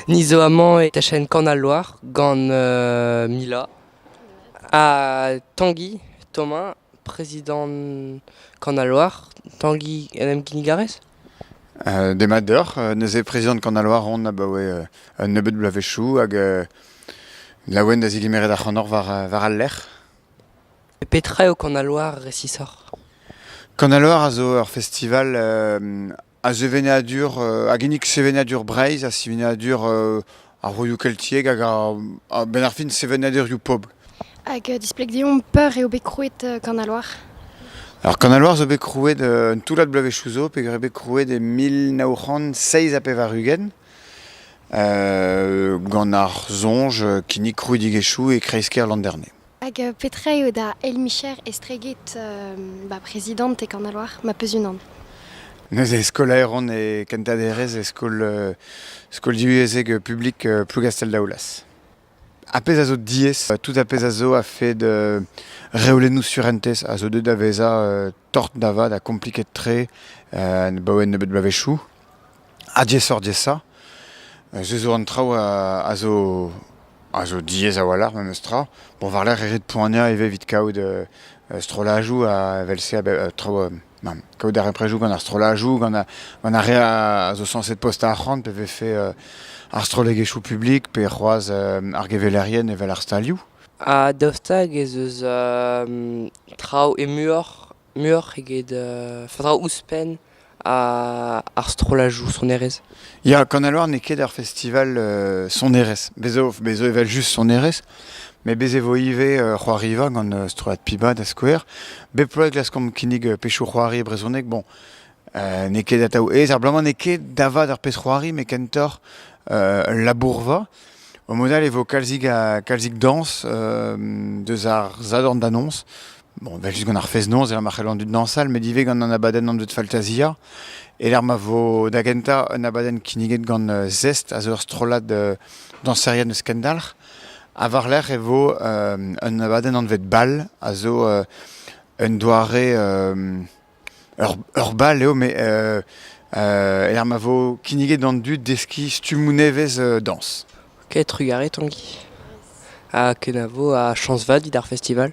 Ni zo amañ e tachenn Kan al Loar gant Mila ha Tangi Thomas, prezidant Kan al Loar. Tangi en em kinnig a rez? Demat deoc'h. Neuze prezidant Kan al Loar on abaoe un nebeud bloavezhioù hag laouen da zigemeret ac'hanoc'h war al lec'h. Petra eo Kanaloar resisoc'h ? Kanaloar a zo ur festival a sevenadur a ginnig sevenadur Breizh ha sevenadur ar vroioù keltiek hag a-benn ar fin sevenadurioù pobl. Hag displeg deomp peurt eo bet krouet Kanaloar. Alors Kanaloar zo bet krouet un toullad bloavezhioù zo peogwir eo bet krouet e mil nav c'hant seizh ha pevar-ugent. gant ar soñj kinnig krouidigezhioù e kreiz-kêr Landerne. Hag euh, petra eo da El Micher estreget euh, ba prezidant e Kanaloar ma peus unan Neuze skolaeron e kentaderezh e skol, skol divyezhek publik Plougastell-Daoulaz. Ar pezh a zo diaes, tout ar pezh a zo a-fed reolennoù surentez a zo deuet da vezañ tort da vat ha kompliket-tre abaoe un nebeud bloavezhioù. Ha diaesoc'h-diaesañ, se zo an traoù a zo a zo diaes a-walc'h memes tra. Bon, war-lerc'h e rit poaniañ ivez evit kaout strollajoù evel-se a-bep traoù Nann. Kaout a ra prejoù gant ar strollajoù, gant, gant ar re a zo sañset postañ arc'hant, pe vefe uh, ar strollegezhioù publik, pe c'hoazh uh, ar gevelerien evel ar stalioù. Ha daoust hag ez eus uh, traoù e muioc'h, muioc'h eget, uh, faotr ouzhpenn ar strollajoù sonerezh? Ya, Kanalour n'eo ket ar festival euh, sonerezh. Bez zo, bez zo evel just sonerezh, mais bez e vo ivez euh, c'hoariva gant euh, strollad Piba da skouer. Bep bloaz e glaskomp kinnig euh, pezhioù c'hoari brezhonek. Bon, euh, n'eo ket atav aes. Ar bloaz-mañ n'eo ket davad ar pezh c'hoari, mais kentoc'h euh, labourva. Au modal e vo kalzik, a, kalzik dañs euh, deus ar zadorn d'annonce. Bon, vel just gant ar fez-noz, e ma c'hell an dud dansal, met ivez gant an abadenn anvet Faltasia. E ma vo da gentañ un abadenn kinniget gant euh, Zest, a zo ur strollad euh, dañserien eus Kendalc'h. Ha war-lerc'h e vo euh, un abadenn anvet Bal, a zo un doare Ur bal eo met e-lec'h ma vo kinniget d'an dud deskiñ stummoù nevez dañs. Ok, trugarez Tangi. Ha kenavo ha chañs vat evit ar festival.